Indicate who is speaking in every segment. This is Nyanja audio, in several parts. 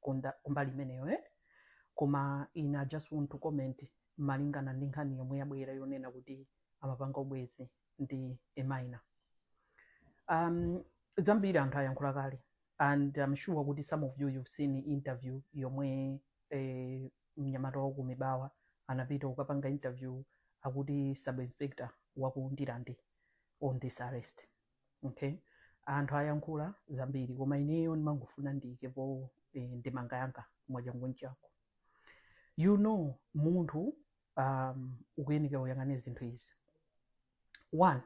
Speaker 1: kunda- kumbali imeneyo eh? koma ine i just want to comment malingana ndi nkhani yomwe yabwera yonena kuti amapanga ubwenzi ndi a minor um, zambiri anthu ayankhula kale and I'm sure kuti some of you you've seen interview yomwe eh, mnyamata wa ku mibawa anapita kukapanga interview akuti sub inspector waku ndirande on this arrest okay anthu ayankhula zambiri koma ineyo ndimangofuna ndiyikepo eh, ndemanga yanga mwachanguchangu you know munthu um, ukuyeneka uyang'ane zinthu izi one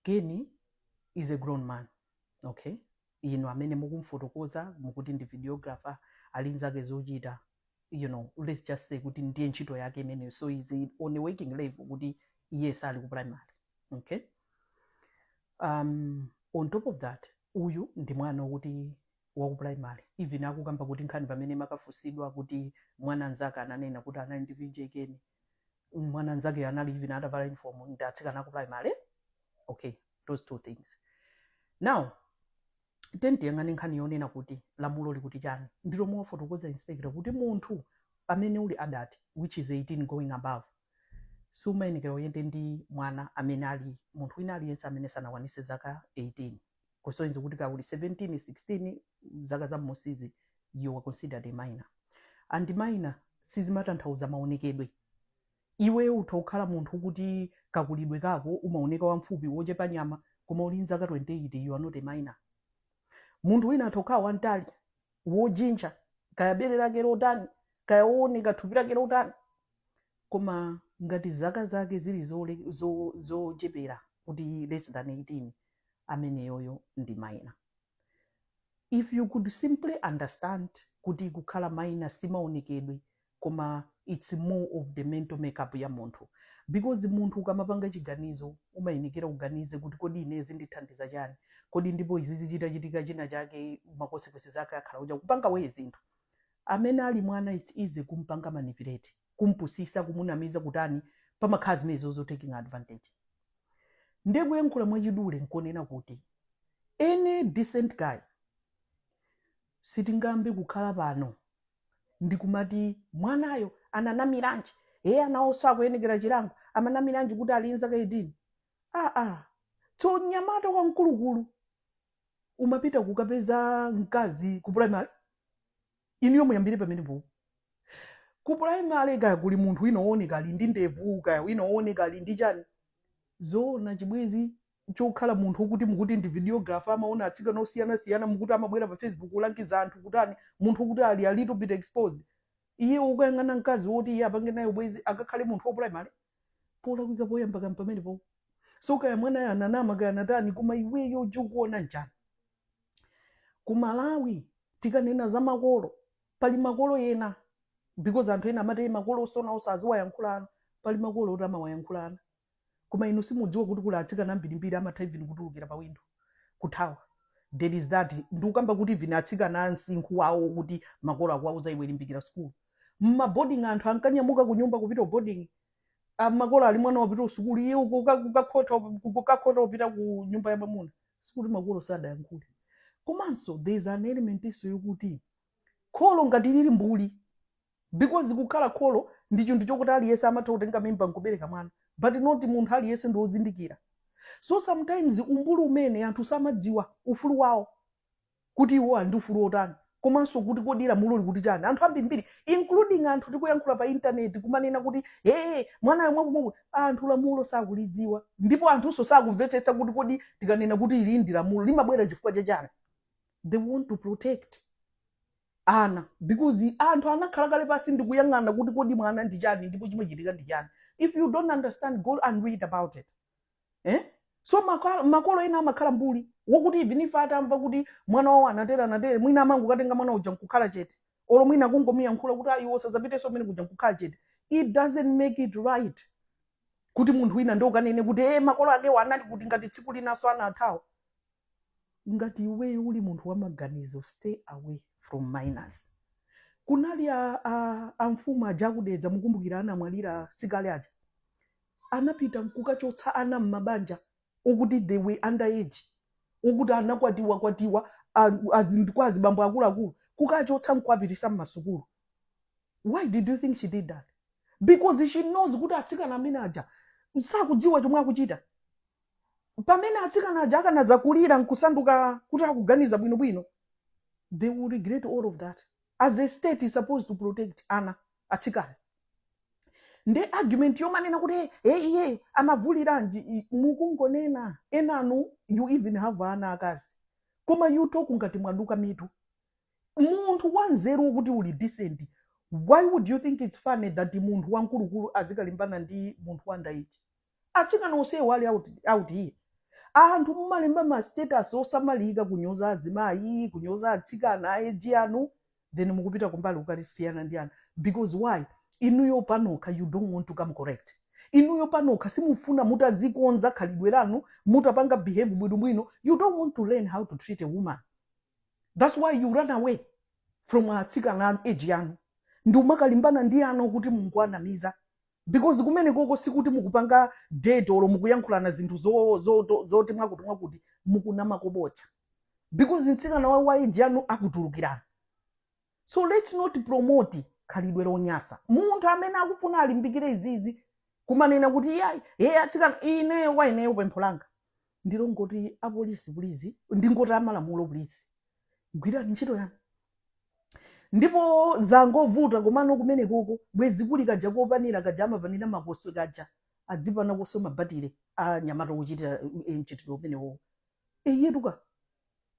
Speaker 1: keni is a grown man okay inu amene mukumfotokoza mukuti ndi videographer ali nzake zochita you know let's just say kuti ndiye ntchito yake imeneyo so he's on a working level kuti iye sali ku primary okay um, on top of that uyu ndi mwana wokuti waku primary even akukamba kuti nkhani pamene amakafunsidwa kuti ana anzake ananena kuti anali ndi VJ Ken ana anzake anali even atavala uniform ndi atsikana aku primary okay those two things now tiyeni tiyang'ane nkhani yonena kuti lamulo likuti chani ndi lomwe afotokoza inspector kuti munthu amene uli adult which is 18 going above sumayenekera uyende ndi mwana amene ali munthu wina aliyense amene sanakwanise zaka 18 kusonyeza kuti kaya uli 17 16 zaka za mmusizi you are considered a minor and minor sizimatanthauza maonekedwe Iwe utha kukhala munthu woti kakulidwe kako umaoneka wamfupi wochepa nyama koma uli nzaka 28 you are not a minor. Munthu wina atha kukhala wantali, wojintcha, kaya bere lake lotani, kaya wooneka thupi lake lotani koma ngati zaka zake zili zole, zo, zochepera kuti less than 18 ameneyoyo ndi minor. If you could simply understand kuti kukhala minor simaonekedwe koma its more of the mental makeup ya munthu because munthu ukamapanga chiganizo umayenekera uganize kuti kodi ine zindithandiza chani kodi ndipo izizi chitachitika, china chake ma consequence zake akhala uja kupanga wa iye zinthu amene ali mwana its easy kumpanga manipulate kumpusisa kumunamiza kutani pamakhala zimene zozo taking advantage ndiye kuyankhula mwachidule nkonena kuti any decent guy Sitingayambe kukhala pano ndikumati mwanayo ananamiranji ee anawonso, akuyenekera chilango amanamiranji kuti ali nzaka 18 aa tso mnyamata wamkulukulu umapita kukapeza mkazi ku primary inuyo muyambire pamenepo ku primary kaya kuli munthu wina wooneka ali ndi ndevu kaya wina wooneka ali ndi chani zoona chibwenzi chokhala munthu okuti mukuti ndi videographer amaona atsikana osiyanasiyana mukuti amabwera pa facebook kulangiza anthu kutani munthu okuti ali a little bit exposed iye ukuyang'ana mkazi woti iye apange naye ubwezi akakhale munthu waku primary polakwika poyamba kani pamenepo so kaya mwanayo ananama kaya anatani koma iweyo uja ukuona njani ku malawi tikanena za makolo pali makolo ena because anthu ena amati makolo osona osaziwayankhulana pali makolo oti amawayankhulana koma inu simudziwa kuti kuli atsikana ambirimbiri amatha even kutulukira pa window kuthawa at least that ndikukamba kuti even atsikana a msinkhu wawo kuti makolo akuwauza iwe limbikira sukulu m'ma boarding anthu ankanyamuka kunyumba kupita ku boarding Ah, makolo ali mwana wapita kusukulu iye uko uka- ukakhota ukakhota upita ku nyumba ya mwamuna sikuti makolo sadayankhule komanso there is an element inso yokuti kholo ngati lili mbuli because kukhala kholo ndi chinthu chokuti aliyense amatha kutenga mimba nkubereka mwana but not munthu aliyense ndi wozindikira so sometimes umbuli umene anthu samadziwa ufulu wawo kuti iwo ali ndi ufulu wotani komanso kuti kodi lamulo likuti chani anthu ambirimbiri including anthu tikuyankhula pa intaneti kumanena kuti ee mwanayo mwakumwaku anthu lamulo sakulidziwa ndipo anthunso sakumvetsetsa kuti kodi tikanena kuti ili ndi lamulo limabwera chifukwa cha chani they want to protect ana because anthu anakhala kale pasi ndikuyang'ana kuti kodi mwana ndi chani ndipo chimachitika ndi chani if you don't understand go and read about it eh? so makolo, makolo ena amakhala mbuli wokuti even if atamva kuti mwana wawo anatere anatere mwina amangokatenga mwana uja nkukhala chete olo mwina kungomuyankhula kuti ayi osazapiteso mene kuja nkukhala chete it doesn't make it right kuti munthu wina ndiye ukanene kuti e makolo akewo anali kuti ngati tsiku linaso anathawa ngati iweyo uli munthu wamaganizo stay away from minors kunali a, a, amfumu aja akudedza mukumbukira anamwalira sikale aja anapita nkukachotsa ana m'mabanja okuti they were underage okuti anakwatiwa kwatiwa a- azi- kwa azibambo akuluakulu kukachotsa nkuwapitisa m'masukulu why did you think she did that because she knows kuti atsikana amene aja sakudziwa chomwe akuchita pamene atsikana aja akanadzakulira nkusanduka kuti akuganiza bwinobwino they will regret all of that as a state is supposed to protect ana atsikana ndi argument yomanena kuti "Eh, eh, iye anavuliranji I- mukungonena enanu you even have ana akazi koma you talk ngati mwaduka mitu munthu wanzeru wokuti uli decent why would you think it's funny that munthu wamkulukulu azikalimbana ndi munthu wa underage atsikana onsewo ali out, out here anthu mumalemba ma status osamalika kunyoza azimayi kunyoza atsikana a age anu then mukupita kumbali ukalisiyana ndi anthu because why inuyo panokha you don't want to come correct inuyo panokha simufuna mutazikonza khalidwe lanu mutapanga behave bwinobwino you don't want to learn how to treat a woman that's why you run away from atsikana a age yanu ndikumakalimbana ndi ana kuti mungowanamiza because kumenekoko sikuti mukupanga date olo mukuyankhulana zinthu zo- zo- to- zoti mwakuti mwakuti mukunama ko bodza because mtsikana wa age yanu akutulukirana so let's not promote khalidwe lonyasa munthu amene akufuna alimbikire izizi kumanena kuti iyayi yeye atsikana ineyo kwa ineyo pempho langa ndi longoti apolisi please ndingoti amalamulo please gwirani ntchito yanu ndipo zangovuta komano kumene koko bwezi kuli kaja kopanira kaja amapanira makoswe kaja adzipana koswe mabatire a nyamata ochitira eh, mchitidwe umenewowo eyetuka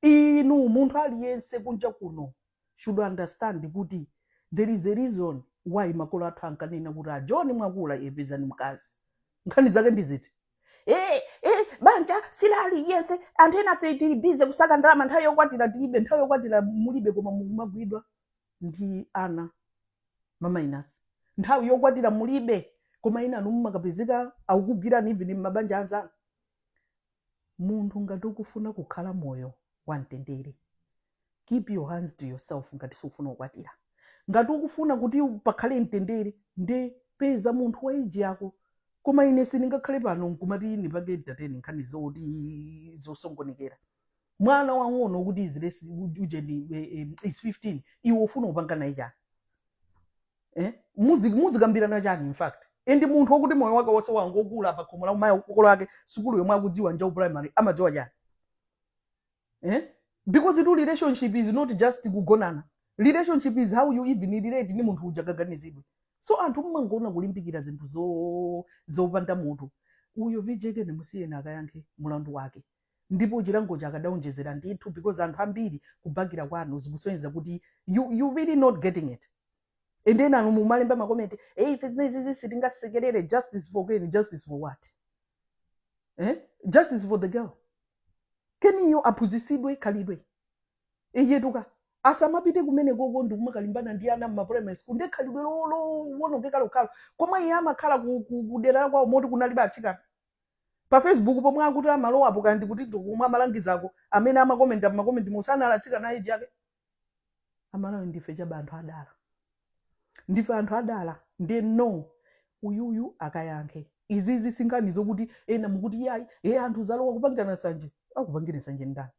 Speaker 1: inu munthu aliyense kunja kuno should understand kuti there is a reason why makolo athu ankanena kuti a john mwakula eh pezani mkazi nkhani zake ndiziti Eh, eh, banja si la aliyense anthu enafe tili busy kusaka ndalama nthawi yokwatira tilibe nthawi yokwatira mulibe koma mumagwidwa ndi ana ma minors nthawi yokwatira mulibe koma enanu mumakapezeka akukugwirani even mmabanja anzanu munthu ngati ukufuna kukhala moyo wamtendere keep your hands to yourself ngati sufuna kukwatira ngati ukufuna kuti pakhale mtendere nde peza munthu wa age yako koma ine sindingakhale pano nkumati ndipange entertain nkhani zoti zosokonekera mwana wang'ono kuti is less ujeni eh, eh, is 15 iwe ufuna kupanga naye chani eh? Muzi- muzikambirana chani in fact and munthu wakuti moyo wake wonse wangokula pa khomo la ma- makolo ake sukulu yomwe akudziwa nja ku primary amadziwa chani eh? because tu relationship is not just kugonana relationship is how you even relate ndi munthu uja kaganizidwe so anthu mmangoona kulimbikira zinthu zo- zopanda mutu uyo vj ken musiyeni akayankhe mulandu wake ndipo chilango chake adaonjezera ndithu because anthu ambiri kubakira kwanu zikusonyeza kuti you, you really not getting it and then enanu mumalemba makomenti hey, ife zimenezizi sitingasekerere justice for ken justice for what eh? justice for the girl keniyo aphunzitsidwe khalidwe iyetuka asamapite kumene koko ndikumakalimbana ndi ana mmaprimary school ndi khalidwe lo- lo- lowonongeka lokhalo komwe iye amakhala ku- ku- kudera la kwawo moti kunalibe atsikana pa facebook pomwe akuti amalowapo kandi kuti komwe amalangizako amene amakomenta makomentimo sanali atsikana a age yake Amalawi ndife chaba anthu adala ndife anthu adala ndiye no uyuyu akayankhe izizi sinkhani zokuti ena mukuti yayi e anthu zalowa kupangirana sanje akupangire sanje ndani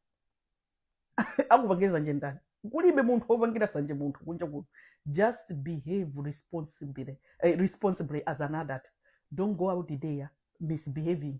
Speaker 1: akupangire sanje ndani kulibe munthu wopangira sanje munthu kunja kuno just behave responsibly, eh, responsibly as an adult don't go out there misbehaving